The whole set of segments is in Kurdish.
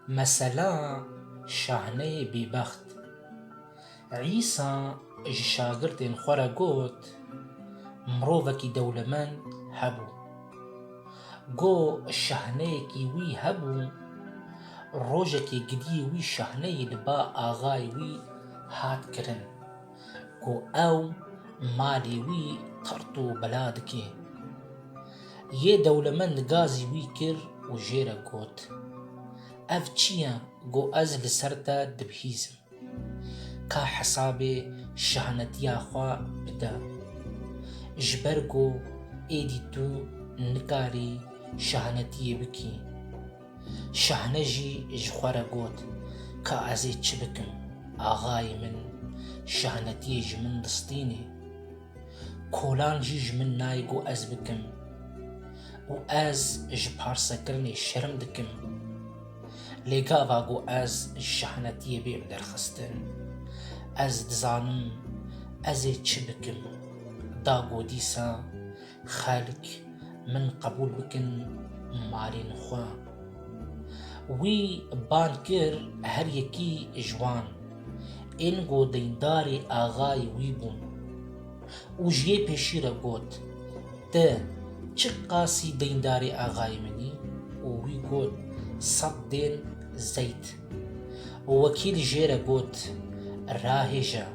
Mesela şahneyê bêbext. Îsa ji şagirdên xwe re got, Mirovekî dewlemend hebû. Go şahneyekî wî hebû, rojekê gidiyê wî şahneyê li ba axayê wî hat kirin. ku ew malê wî qert û bela dike. Yê dewlemend gazî wî kir û jê re got, Ev çi ye ku ez li ser te dibihîzim? Ka hesabê şahnetiya xwe bide. Ji ber ku êdî tu nikarî şahnetiyê bikî. Şahne jî ji xwe re got, Ka ez ê çi bikim, axayê min şahnetiyê ji min distînê. Kolan jî ji min nayê ku ez bikim û ez ji parsekirinê şerm dikim. Lê gava ku ez ji şahnetiyê bêm derxistin, ez dizanim ez ê çi bikim. Da ku dîsa Xelk min qebûl bikin malên xwe. Wî bang kir her yekî ji wan ên ku deyndarê axayê wî bûn û ji yê pêşî re got, Ti çi qasî deyndarê axayê min î? Û wî got, Sed dên zeyt. Wekîl jê re got, Rahêje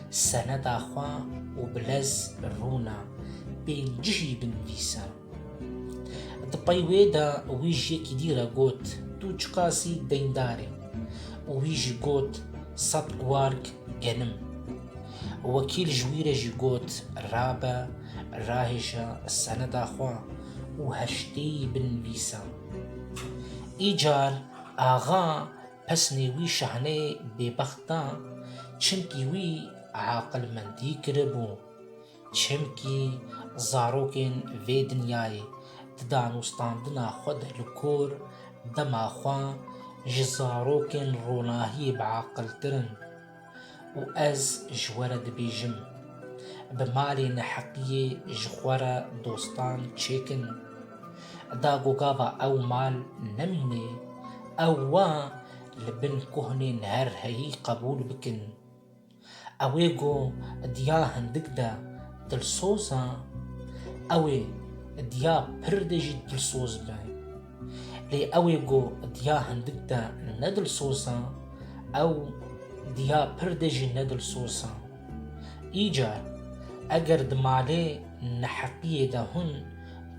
seneda xwe û bi lez rûne bên cihî binivîse. Di pey wê de wî ji yekî dî re got, Tu çiqasî deyndar î? Û wî jî got, Sed warg genim. Wekîl ji wî re jî got, Rabe, rahêje seneda xwe û heştê yî binivîse. Îcar Axa pesnê wî şahnê bêbext da, çimkî wî aqilmendî kiribû. Çimkî zarokên vê dinyayê di danûstandina xwe de li kor, dema xwe ji zarokên ronahiyê biaqiltir in. û ez ji we re dibêjim, bi malê neheqiyê ji xwe re dostan çêkin. Da ku gava ew mal nemîne, ew wa li bin kohnên her heyî qebûl bikin. Ew ê ku diya hindik de dilsoz e, ew ê diya pir de jî dilsoz be. Lê ew ê ku diya hindik de ne dilsoz e, ew diya pir de jî ne dilsoz e. Îcar, eger di malê neheqiyê de hûn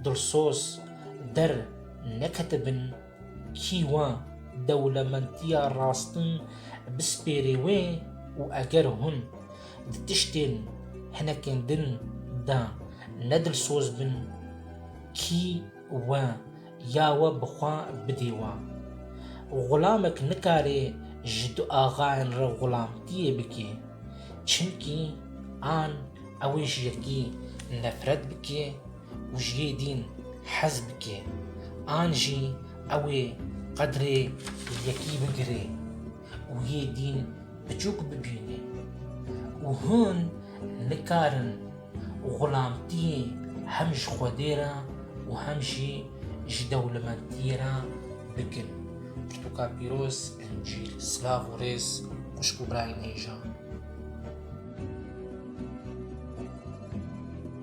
dilsoz der neketibin, kî we dewlementiya rastin bispêrê wê û eger hûn di tiştên hinekên din de ne dilsoz bin, kî We, ya we bi xwe bidê we. Xulamek nikarê ji du axayên re xulamtiyê bike. Çimkî an ewê ji yekî nefret bike û ji yê dîn hez bike, an jî ewê qedrê yekî bigire. û yê dîn biçûk bibîne û hûn nikarin xulamtiyê hem ji Xwedê re û hem jî ji dewlemendiyê re bikin. Pirtûka pîroz Encîl. Silav û rêz xwişk û birayên hêja.